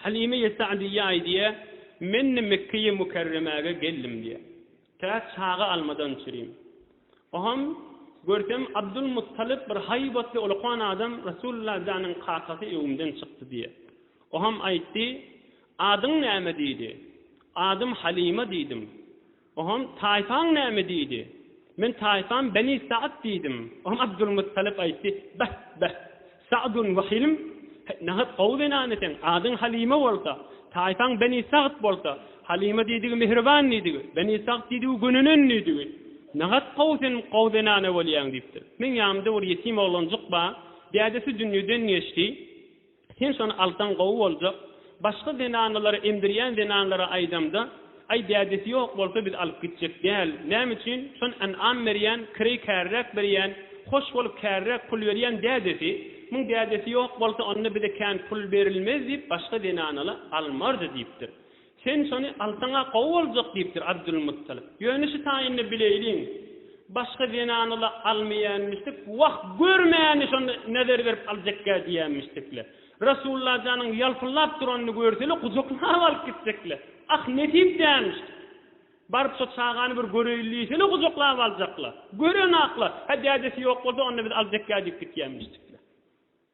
Halime-i Sa'diýýe aýdýar, Men-de Mekge-i Mükerremäge geldim diýýär. Tä çaga almadan çürim. Oňam, görsem, Abdulmuttalyp bir haýbatly ulkan adam Resulullah janyň kakasy öňümden çykdy diýýär. Oňam aýtdy, Adyň näme diýdi. Adym Halime diýdim. Oňam, Taýpaň näme? diýdi. Men, Taýpam Beni Sa'd diýdim. Oňam Abdulmuttalyp aýtdy, Beh, beh! Sa'dun we Hilm? Heý, nähak gowy zenany sen! Adyň Halyma bolsa, taýpaň Beni Sa'd bolsa, Halyma diýdigi mähriban diýdigi, Beni Sa'd diýdigi gönenen diýdigi. Nähak gowy sen gowy zenana bolýaň! diýipdir. Meň ýanymda bir ýetim oglanjyk bar. Dädesi dünýeden geçdi. Sen şony alsaň gowy boljak. Başga zenanalary emdirýän zenanlara aýdamda, Aý dädesi ýok bolsa biz alyp gitjek däl. Näme üçin? Şon ynam berýän, kireý käriräk berýän, hoş bolup käriräk pul berýän dädesi. Muň dädesi ýok bolsa onda bize kän pul berilmez diýip başga zenanala almardy diýipdir. Sen şony alsaň-a gowy boljak, diýipdir Abdulmuttalip. Ýöne şu taýynda bileýliň, başga zenany-la almaýanmyşdyk, wah, gör mäni şonda näzär berip aljakkä diýenmişdikle. Resulla janyň ýalpyldap duranyny görse-le, gujaklap alyp gitjekle. Ah, nesip dälmişdi. Baryp şo çagany bir göreýin diýse-le, gujaklap aljakla. Gören-akla, hä dädesi ýok bolsa, onda biz aljakkä diýip gitýänmişdikle.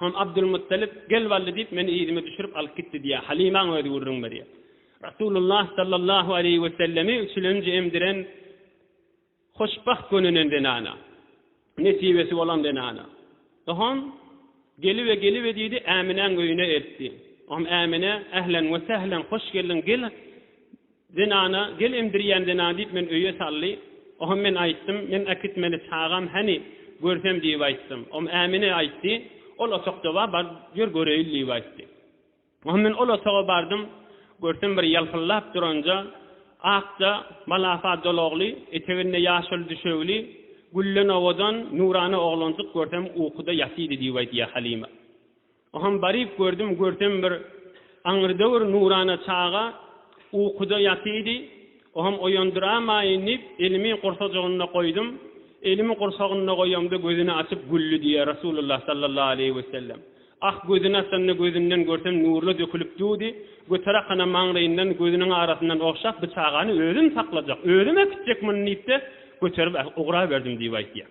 Soň Abdulmuttalip, Gel Wally diýip, meni yzyma düşürip alyp gitdi diýýär. Halymaň özi gürrüň berýär. Rasulullah sallallahu aleýhi wesellemi üçülenji emdiren hoşbagt gönünen zenana. Nesibesi bolan zenana. Soň Gelibe, gelibe diýdi, Äminäň öýüne eltdi. Soň Ämine, Ählen we sählen, hoş geldiň, gel, Zenana, Gel emdirýän zenana diýip meni öýe saldy. Oňam men aýtdym, Men äkitmeli çagam häni, görsem diýip aýtdym. Oňam Ämine aýtdy, Ol otagda bar, bar ýör göreýin diýip aýtdy. Oňam men ol otaga bardym, görsem bir ýalpyldap duranja, akja, malapa dolagly, eteginde ýaşyl düşegli, gülden owadan, nurana oglanjyk görsem ukuda ýatydy diýip aýdýar Halima. Oham baryp gördüm görsem bir aňry döwür nurana çaga ukuda ýatydy oham oýandyramaýyn diýip elimi gursajygynda goýdum elimi gursagynda goýamda gözüni açyp güldi diýýär Rasulullah sallallahu aleýhi wesellem ah gözüni açanda gözünden görsem nurla dökülip dudy göterakana maňlaýyndan gözüniň arasyndan ogşap bi çagany özüm saklajak özüm äkitjek muny diýipde göterip ugraberdim diýip aýtýar.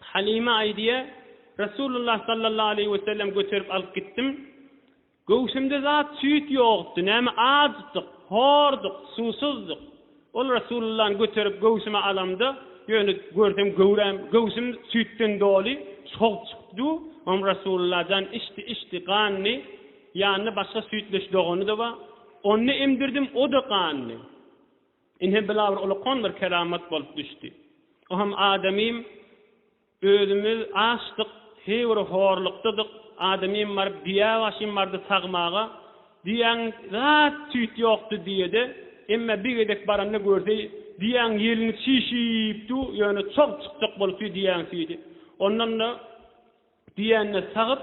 Halyma aýdýar, Resulullah sallallahu aleýhi wesellem göterip alyp gitdim. Göwsümde zat süýt ýokdy, näme acdyk, horduk, suwsuzdyk. Ol Resulullany göterip göwsüme alamda, ýöne görsem göwräm, göwsüm süýtden doly, sog çykdy. Oňa Resulullah jan içdi, içdi, gandy. Ýanynda başga süýtleş dogany-da bar. Onda emdirdim, o-da gandy. Ine, bu-la bir ulukan bir keramat bolup düşdi. O hem adamym, özümiz açdyk, heý bir horlukdadyk, adamym baryp düýä başym bardy sagmaga, düýäň zat-tüýt ýokdy düýede, emma bir gezek baranda görse, düýäň ýelini çişip dur, ýöne çog çykjak bolup dur düýäň süýdi. Ondan-da. Diýende sagyp,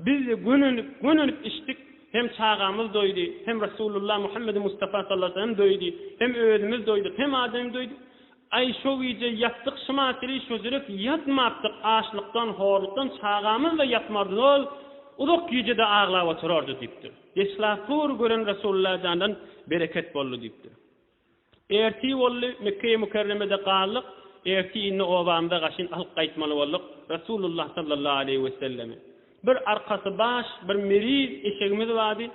Biz-de gönenip, gönenip içdik, hem çagamyz doýdy, hem Resulullah Muhammedi Mustafa sallallahu aleýhi we sellem doýdy, hem özümiz doýduk, hem adam doýdy. Aý, şo gije ýatdyk şymatyly, şojurek ýatmapdyk, açlykdan, horlukdan çagamyz-da ýatmardy, ol uzak gije-de aglap oturardy diýipdir. Deşlapur gören Resulullah jandan bereket boldy diýipdir. Ertir boldy, Mekge-i Mükerremede galdyk, ertir indi obamyza gaşyn alyp gaýtmaly bolduk, Resulullah sallallahu aleýhi wesellemi. Bir arkasy baş, bir meriz eşegimiz bardy,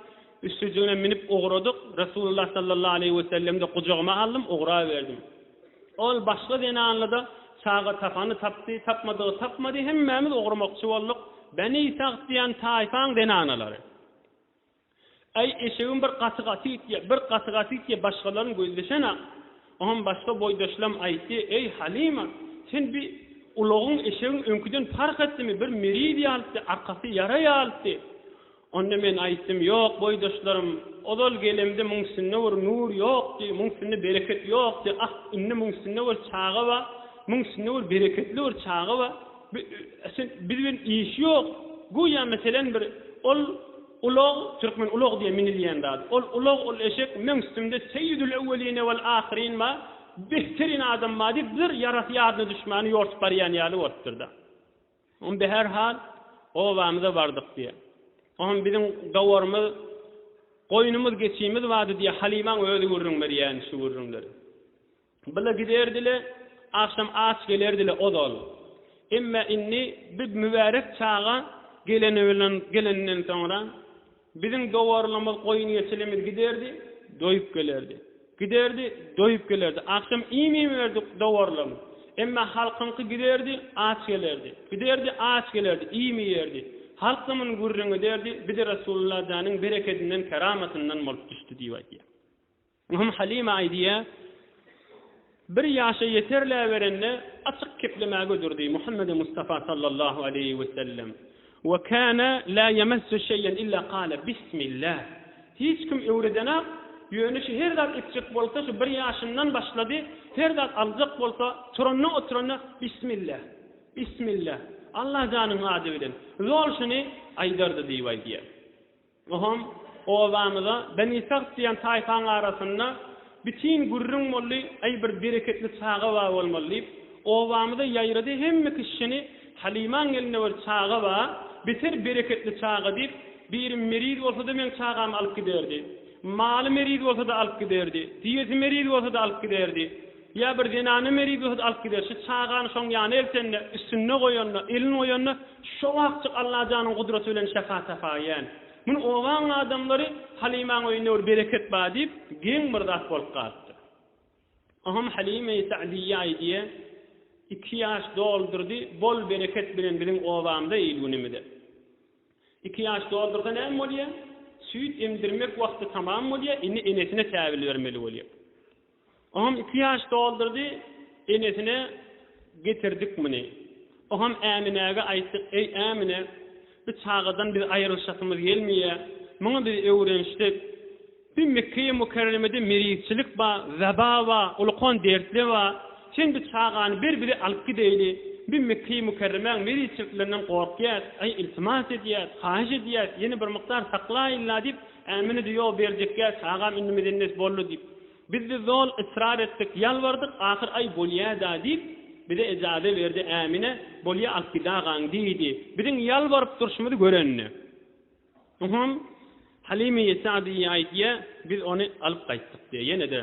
üstüjigine minip ugradyk, Resulullah sallallahu aleýhi wesellem-de gujagyma aldym, ugraberdim. Ol başga zenanly-da çaga tapany tapdy, tapmadygy tapmady, hemmämiz ugramakçy bolduk, Beni Sagt diýen taýpaň zenanalary. Äý, eşegim bir gaty-gaty itýä, bir gaty-gaty itýä, başgalaryň gözleşen-ä. Oňam başga boýdaşlam aýtdy, Eý, Halyma, sen bi ulagyň, eşegiň öňküden parh etdimi, bir miriz ýalytdy, arkasy ýara ýalytdy. Onda men aýtdym, Ýok, boýdaşlarym, ozal gelemde muň üstünde bir nur ýokdy, muň üstünde bereket ýokdy, ah, indi muň üstünde bir çaga bar, muň üstünde bir bereketli bir çaga bar. Biz bilen işi ýok. Güýä meselen bir ol ulag, türkmen ulag diýýär minilýän zady. Ol ulag, ol eşek, meň üstümde seýýidül ewweline wel ahyrin bar, behteryn adam bar diýip bir ýarasy ýadyna düşmäni ýortup barýan ýaly bolupdyr-da. Onda her hal obamyza bardyk diýýär. Oňam biziň gawarymyz, goýnumyz, geçimiz bardy diýýär. Halymaň özi gürrüň berýär şu gürrüňleri. Bile giderdi-le, agşam aç gelerdi-le ozal. Emme indi bi mübärek çaga geleninden soňra, biziň dowarlymyz, goýun-geçilimiz giderdi, doýup gelerdi. Giderdi, doýup gelerdi. Agşam iým iýmerdi dowarlym. Emme halkyňky giderdi, aç gelerdi. Giderdi, aç gelerdi, iým iýerdi. Halk da muny gürrüň ederdi, bi-de Resulullah janyň berekedinden, keramatyndan bolup düşdi diýip aýdýar. Möhüm Halima aýdýar, Bir ýaşa ýeterläberende açyk keplemä göderdi Muhammedi Mustafa sallallahu aleýhi wesellem, Ve kâne lâ yemessu şeyen illa kâle Bismillah. Hiç kim öwredenak, ýöne şu her zat etjek bolsa şu bir ýaşyndan başlady, her zat aljak bolsa turanda-oturanda Bismillah, Bismillah, Allajanyň ady bilen, zol şuny aýdardy diýip aýdýar. Bu hem obamyza Beni Sagt diýen taýpaň arasynda bitin gürrüň boldy, Aý bir bereketli çaga bar bolmaly diýip, obamyza ýaýrady, hemme kişi şini Halymaň elinde bir çaga bar, beter bereketli çaga diýip, biri meriz bolsada meň çagamy alyp giderdi. Maly meriz bolsada alyp giderdi. Diýesi meriz bolsada alyp giderdi. Ýa bir zenany meri-bihut alyp gider, şu çagany şoň ýana eltende, üstünde goýanda, elini goýanda, şo wagtjyk Allajanyň gudraty bilen şyfa tapaýýan. Muny obanyň adamlary, Halymaň öýünde bir bereket bar diýip, geň bir zat bolup galypdyr. Oňam Halyma-i Sagdiýýa-y diýe, iki ýaş doldurdy, bol bereket bilen biziň obamyza, il-günümize. Iki ýaş doldursa näme bolýa? Süýt emdirmek wagty tamam bolýa, indi enesine täbil bermeli bolýa. Oňam iki ýaş doldurdy, enesine getirdik muny. Oňam Äminäge aýtdyk, eý Ämine, bu çagadan biz aýrylyşasymyz gelmeýä, muňa biz öwrenişdik. Bu Mekgeýi Mükerremede merizçilik bar, weba bar, ulkan dertler bar. Sen bu çagany ber bize alyp gideýli. Biz Mekgeýi Mükerremäň merizçiliklerinden gorkýas, aý iltimas edýäs, haýyş edýäs, ýene bir mukdar saklaýylla diýip, Ämini düýe berjekgäç, agam indi mezennet boldy diýip, biz-de zol ysrar etdik, ýalbardyk, ahyr aý bolýa-da diýip, bize ejaze berdi, Ämine, Bolýa alyp gidagaň diýdi. Biziň ýalbaryp durşumyzy görende. Uhum, Halymy ýesadyýýa aýt diýýä, biz ony alyp gaýtdyk diýýä, ýene-de.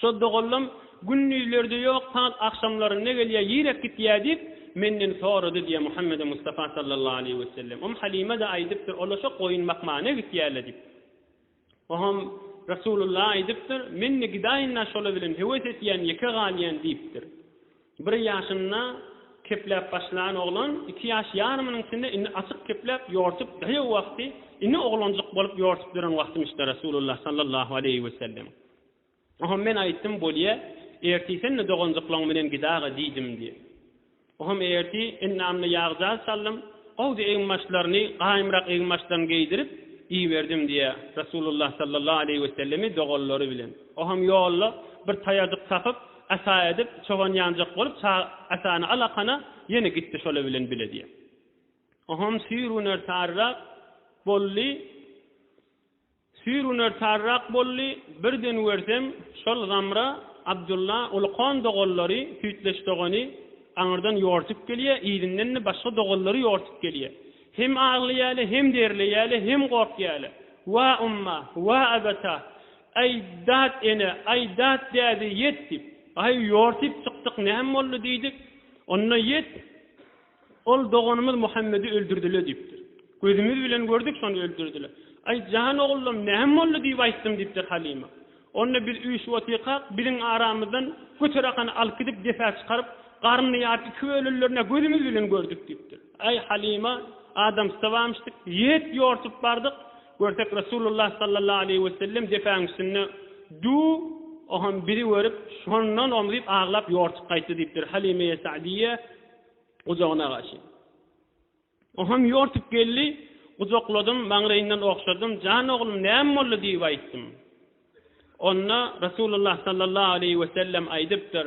Şo doganlam Gündizlerde ýok, sagat agşamlarynda gelýär, ýiräk gitýär diýip, menden sorady diýýär Muhammedi Mustafa sallallahu aleýhi wesellem. Umm Halime-de aýdypdyr, Olar şo goýun bakmana gitýärler diýip. Oňam Resulullah aýdypdyr, Men-de gidaýyn-la şolar bilen, höwes etýän, ýeke galýan diýipdir. Bir ýaşynda kepläp başlan oglan iki ýaş ýarymynyň içinde indi açyk kepläp ýortup daýaw wagty ine oglanjyk bolup ýortup ýören wagtymyşda Resulullah sallallahu aleýhi wesellem Oham men aýtdym bolýa erti sen-de doganjyklaň bilen gidaga diýdim diý Oham erti ennamyna ýagjaz saldym gowdy eginbaşlaryny gaýymrak eginbaşlaryny geýdirip iberdim diýä Resulullah sallallahu aleýhi wesellemi doganlary bilen Oham ýolda bir taýajyk tapyp Ata edip, çogan ýanjak bolup, ça atany al akana, ýene gitdi şola bilen bile diýýär. Ohom süýr güner saryrak bolly, süýr güner saryrak bolly, bir den görsem, şol Zamra, Abdylla, uly kon doganlary, süýtleş dogany, aňyrdan ýortup gelýär, yzyndan-da başga doganlary ýortup gelýär. Hem aglaýarlar, hem derleýärler, hem gorkýarlar. Wa umma, wa abata! Aý, dat ene, aý, dat däde, ýet! diýip, Aý, ýor, syp çykdyk, näme boldy? diýdik. Onda, ýet, ol doganymyz Muhammedi öldürdiler diýipdir. Gözümiz bilen gördük, şony öldürdiler. Aý, jan oglum, näme boldy? diýip aýtdym, diýipdir Halyma. Onda biz üýşüp otyrkak, biziň aramyzdan göterakany alyp gidip, depä çykaryp, garnyny ýaryp, iki bölürlerine gözümiz bilen gördük, diýipdir. Aý, Halyma, adamsysa barmyşdyk. Ýet, ýorsup bardyk. Görsek Resulullah sallallahu aleýhi we sellem depäň üstünde Du oham bizi görüp şondan om diýip aglap ýortup gaýtdy diýipdir Halymeýe Sa'diýe gujagyna gaşy oham ýortup geldi gujakladym maňlaýyndan ogşadym jan oglum näme boldy diýip aýtdym onda Resulullah sallallahu aleýhi we sellem aýdypdyr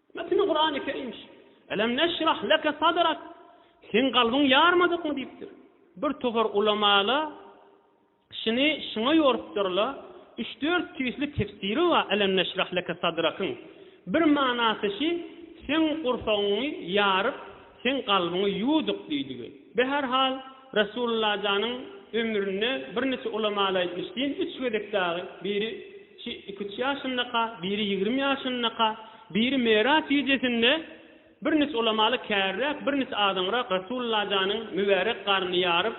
Metni Kurany Kerim şu. Elem neşrah leke sadrak, Seň kalbyň ýarmadykmy diýipdir. Bir topar ulamala şuny şuňa ýorupdyrla, üç-dört tüýsli tefsiri bar Elem neşrah leke sadrakyň. Bir manasy şi, Seň gursagyňy ýaryp, Seň kalbyňy ýuwduk diýdigi. Be her hal Resulullah janyň ömründe bir niçe ulamala aýtmyş din üç gezek dagy biri şi iki üç ýaşyndaka biri ýigrimi ýaşyndaka biri Meraç gijesinde bir niç ulamala kärräk bir niç azaňrak Resulullah janyň mübärek garnyny ýaryp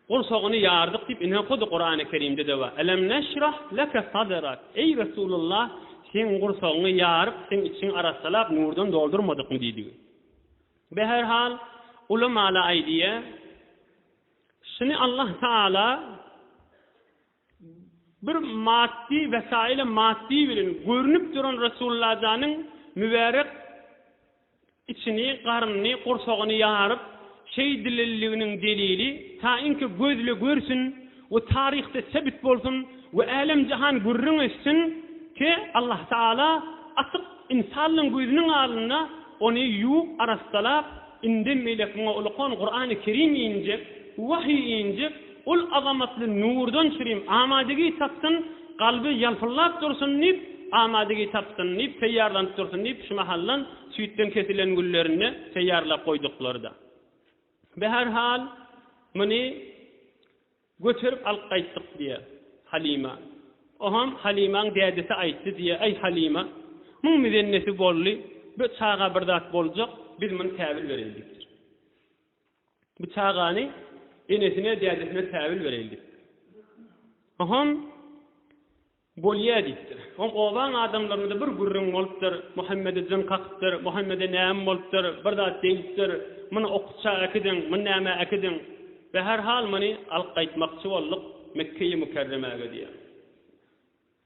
Gursagyny ýardyk diýip ine hut Kurany Kerimde-de bar. Elem neşrah leke sadrak, eý Resulullah seň gursagyňy ýaryp seň içiňi arassalap nurdan doldurmadykmy diýdigi. Be her hal ulamalar aýdýa şuny Allah Taala Bir maddy wesaýyla maddy bilen görnüp duran Resullajanyň mübärek içini, garnyny, gursagyny ýaryp, şeýdililliginiň delili ta inki gözle görsün we taryhda sebit bolsun we älem-jahan gürrüň etsin ki, Allah Taala açyk ynsanlygyň gözüniň alynda ony ýuwup, arassalaap, indem beýlek muňa ulakan Kurany Kerim injek, wahyý injek, Ol azamatly nurdan çirim amadigi tapsyn, kalby ýalpyldap dursun diýip, amadigi tapsyn diýip, teýýarlanyp dursun diýip, şu mahaldan süýtden kesilen güllerini teýýarlap goýduklary-da. Be her hal, muny göterip alyp gaýtdyk diýýär Halima. Oham Halimaň dädesi aýtdy diýýär, Aý Halima, muň mizennesi boldy, be çaga bir zat boljak, biz muny käbir bereýin diýipdir. Bu çagany enesine, dädesine säwül bereýin diýip. Oňam Bolýa diýipdir. Oň obaň adamlarynda bir gürrüň bolupdyr, Muhammede jyn kakypdyr, Muhammede näme bolupdyr, bir zat degipdir, muny okutja äkidiň, muny nämä äkidiň. We her hal muny alyp gaýtmakçy bolduk Mekkeýi Mükerremäge diýýär.